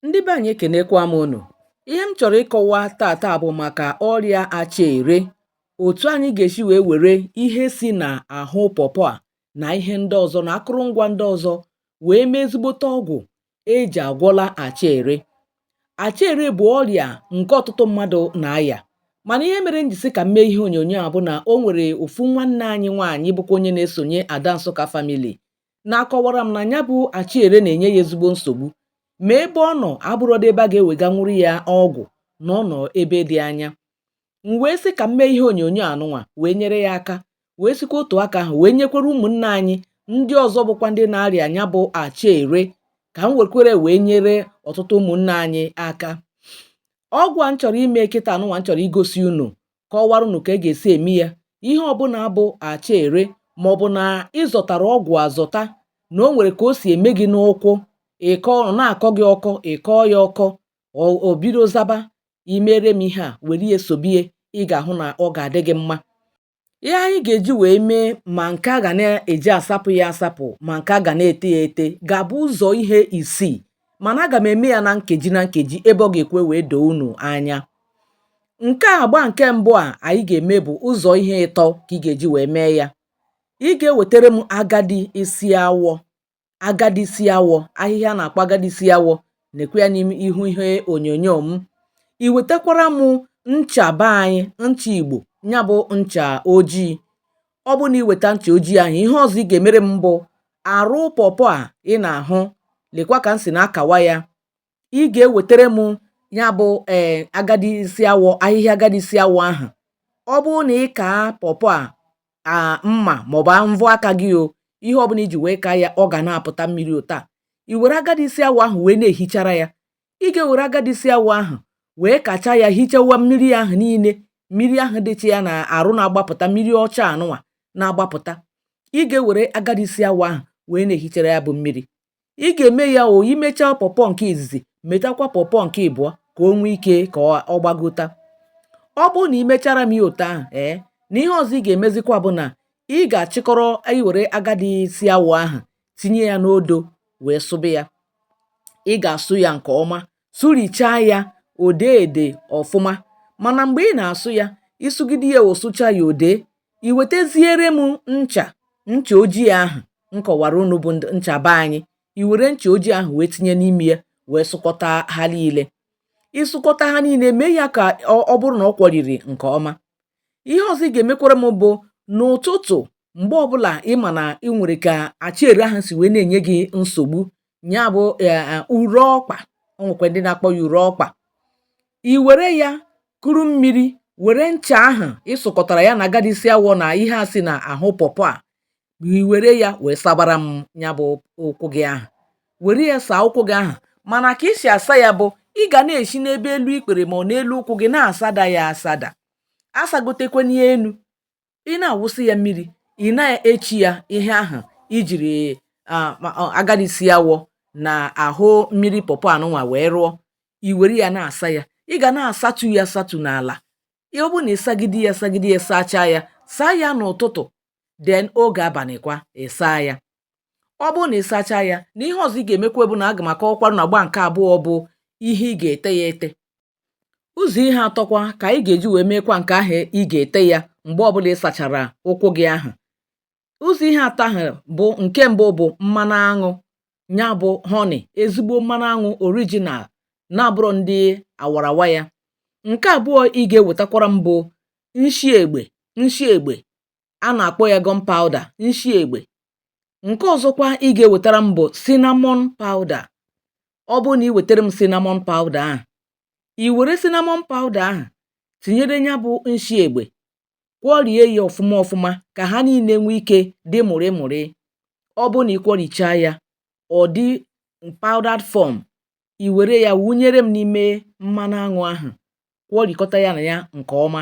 ndị be anyị ekenekwa m unu ihe m chọrọ ịkọwa taata bụ maka ọrịa acha ere otu anyị ga-esi wee were ihe si na ahụ pọpọ a na ihe ndị ọzọ na akụrụngwa ndị ọzọ wee mee ezigbote ọgwụ eji agwọla acha ere acha ere bụ ọrịa nke ọtụtụ mmadụ na-aya mana ihe mere m ji sị ka m mee ihe onyonyo a bụ na o nwere ofu nwanne anyị nwaanyị bụkwa onye na-esonye ada nsụka famili na-akọwara m na nya bụ acha ere na-enye ya ezigbo nsogbu ma ebe ọ nọ abụrọdị ebe a ga-eweganwuru ya ọgwụ na ọ nọ ebe dị anya m wee sị ka m mee ihe onyonyo anụnwa wee nyere ya aka wee sikwa otu aka ahụ wee nyekwara ụmụnne anyị ndị ọzọ bụkwa ndị na-arịa nya bụ acha ere ka m wekwere wee nyere ọtụtụ ụmụnne anyị aka ọgwụ a m chọrọ ime kịta anụnwa m chọrọ igosi unu kọwara unu ka e ga-esi eme ya ihe ọbụla bụ acha ere ma ọ bụ na ị zọtara ọgwụ azọta na o nwere ka o si eme gị n'ụkwụ ịkọ ọ na-akọ gị ọkọ ị kọọ ya ọkọ o bido zaba i mere m ihe a were ya sobie ị ga-ahụ na ọ ga-adị gị mma ihe anyị ga-eji wee mee ma nke a ga na-eji asapụ ya asapụ ma nke a ga na-ete ya ete ga-abụ ụzọ ihe isii mana aga m eme ya na nkeji na nkeji ebe ọ ga-ekwe wee doo unu anya nke agba nke mbụ a anyị ga-eme bụ ụzọ ihe ịtọ ka ị ga-eji wee mee ya ị ga-ewetara m agadi isi awọ agadi isi awọ ahịhịa a na-akpọ agadi isi awọ nekwe ya n'ime ihu ihe onyonyo m i wetakwara m ncha be anyị ncha igbo ya bụ ncha ojii ọ bụ na i weta ncha ojii ahụ ihe ọzọ ị ga-emere m bụ arụ pọpọ a ị na-ahụ lekwa ka m si na-akawa ya ị ga-ewetara m ya bụ ee eh agadi isi awọ ahịhịa agadi isi awọ ahụ ọ bụrụ na ị kaa pọpọ a mma maọbụ mvọ aka gị o ihe ọbụla i ji wee kaa ya ọ ga na-apụta mmiri otu a i were agadi isi awọ ahụ wee na-ehichara ya ị ga-ewere agadi isi awọ ahụ wee kachaa ya hichawa mmiri ahụ niile mmiri ahụ dịcha ya na arụ na-agbapụta mmiri ọcha anụnwa na-agbapụta ị ga-ewere agadi isi awọ ahụ wee na-ehichara ya bụ mmiri ị ga-eme ya o i mechaa pọpọ nke izizi metakwa pọpọ nke ịbụọ ka o nwee ike ka ọ gbagota ọ bụrụ na ị mechara m ya otu ahụ ee na ihe ọzọ ị ga-emezikwa bụ na ị ga-achịkọrọ i were agadi isi awọ ahụ tinye ya n'odo wee sụba ya ị ga-asụ ya nke ọma sụrichaa ya o dee ede ọfụma mana mgbe ị na-asụ ya ị sụgide ya o sụchaa ya o dee i weteziere m ncha ncha ojii ahụ m kọwara unu bụ ncha be anyị i were ncha ojii ahụ wee tinye n'ime ya wee sụkọta ha niile ị sụkọta ha niile mee ya ka ọ bụrụ na ọ kwọriri nke ọma ihe ọzọ ị ga-emekwara m bụ n'ụtụtụ mgbe ọbụla ị ma na ị nwere ka acha ere ahụ si wee na-enye gị nsogbu ya bụ e, e, ure ọkpa o nwekwa ndị na-akpọ ya ure ọkpa i were ya kuru mmiri were ncha ahụ ị sụkọtara ya na agadi isi awọ na ihe a si na ahụ pọpọ a i were ya wee sabara m ya bụ ụkwụ gị ahụ were ya saa ụkwụ gị ahụ mana ka i si asa ya bụ ị ga na-esi n'ebe elu ikpere ma ọ n'elu ụkwụ gị na-asada ya asada asagotekwana enu ị na-awụsị ya mmiri ị na-echi ya ihe ahụ i jiri agadi isi awọ na ahụ mmiri pọpọ anụnwa wee rụọ i were ya na-asa ya ị ga na-asatu ya asatu n'ala ọ bụrụ na ị sagide ya sagide ya sachaa ya saa ya n'ụtụtụ then oge abalịkwa ị saa ya ọ bụrụ na ị sachaa ya na ihe ọzọ ị ga-emekwa bụ na aga m akọwakwarụ na agba nke abụọ bụ ihe ị ga-ete ya ete ụzọ̀ ihe atọkwa kà ànyị gà-èji wèe meekwa ǹkè ahụ̀ ị gà-ète yȧ m̀gbe ọbụlà ị sàchàrà ụkwụ gị ahụ̀ ụzọ̀ ihe atọ ahụ̀ bụ ǹke mbụ bụ̀ mmanụ aṅụ nya bụ̇ honey ezigbo mmanụ aṅụ original na-abụrọ ndị àwàràwa yȧ ǹke àbụọ ị gà-ewètakwara m bụ nshi egbè nshi egbè a na-akpọ ya gunpowder nshi egbe nke ọzọkwa ị ga-ewetara m bụ cinnamon powder ọ bụrụ na ị wetara m cinnamon powder ahụ i were cinnamon powder ahụ tinyere ya bụ nshi egbe kwọrie ya ọfụma ọfụma ka ha niile nwee ike dị mụrị mụrị ọ bụrụ na ị kwọrichaa ya ọ dị powdered form i were ya wụnyere m n'ime mmanụ aṅụ ahụ kwọrikọta ya na ya nke ọma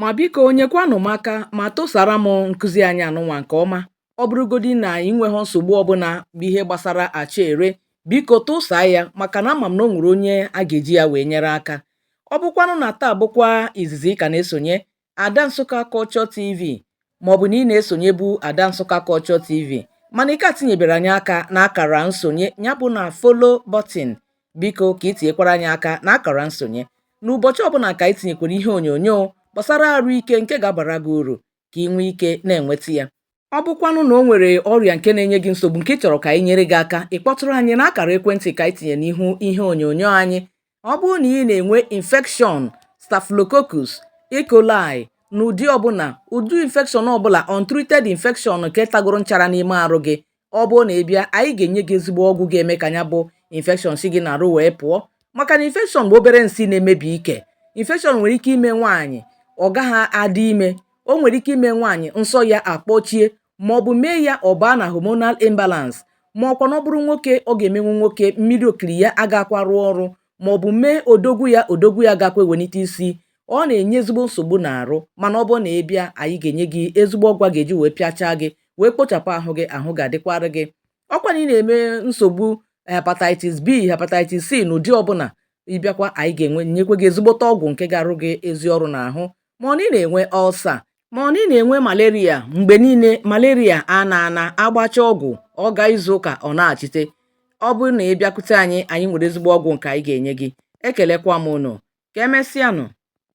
ma biko nyekwanụ m aka ma tụsara m nkụzi anyị anụnwa nke ọma ọ bụrụgodi na ị nweghị nsogbu ọbụla bụ ihe gbasara acha ere biko tụsaa ya maka na ama m na o nwere onye a ga-eji ya wee nyere aka ọ bụkwanụ na taa bụkwa izizi ị ka na-esonye ada nsukka culture tv maọbụ na ị na-esonyebu ada nsukka culture tv mana ị ka tinyebere anyị aka na akara nsonye ya bụ na follow button Biko ka i tinyekwara anyị aka na akara nsonye. N'ụbọchị ọbụla ka anyị tinyekwara ihe onyonyo gbasara arụ ike nke ga-abara gị uru ka ị nwee ike na-enweta ya. Ọ bụkwanụ na o nwere ọrịa nke na-enye gị nsogbu nke ị chọrọ ka anyị nyere gị aka, ị kpọtụrụ anyị na akara ekwentị ka anyị tinye n'ihu ihe onyonyo anyị. Ọ bụrụ na ị na-enwe infection staphylococcus E. coli n'ụdị ọbụla, ụdị infection ọbụla, untreated infection nke tagoro nchara n'ime arụ gị, ọ bụrụ na ị bịa anyị ga-enye gị ezigbo ọgwụ ga-eme ka ya bụ infection si gị n'arụ wee pụọ maka na infection bụ obere nsị na-emebi ike infection nwere ike ime nwaanyị ọ gaghị adị ime o nwere ike ime nwaanyị nsọ ya akpọchie ma ọ bụ mee ya ọ baa na hormonal imbalance ma ọkwa na ọ bụrụ nwoke ọ ga-emenwu nwoke mmiri okiri ya agakwa arụ ọrụ ma ọ bụ mee odogwu ya odogwu ya agakwa ewelite isi ọ na-enye ezigbo nsogbu n'arụ mana ọ bụrụ na ị bịa anyị ga-enye gị ezigbo ọgwụ a ga-eji wee pịachaa gị wee kpochapụ ahụ gị ahụ ga-adịkwara gị ọkwa na ị na-eme nsogbu hepatitis b hepatitis c n'ụdị ọbụla ị bịakwa anyị ga-enyekwa gị ezigbote ọgwụ nke ga-arụ gị ezi ọrụ n'ahụ ma ọ na ị na-enwe ulcer ma ọ na ị na-enwe malaria mgbe niile malaria a na-ana agbacha ọgwụ ọ gaa izu ụka ọ nachite ọ bụrụ na ị bịakwute anyị anyị nwere ezigbo ọgwụ nke anyị ga-enye gị ekelekwa m ụnụ ka emesịanụ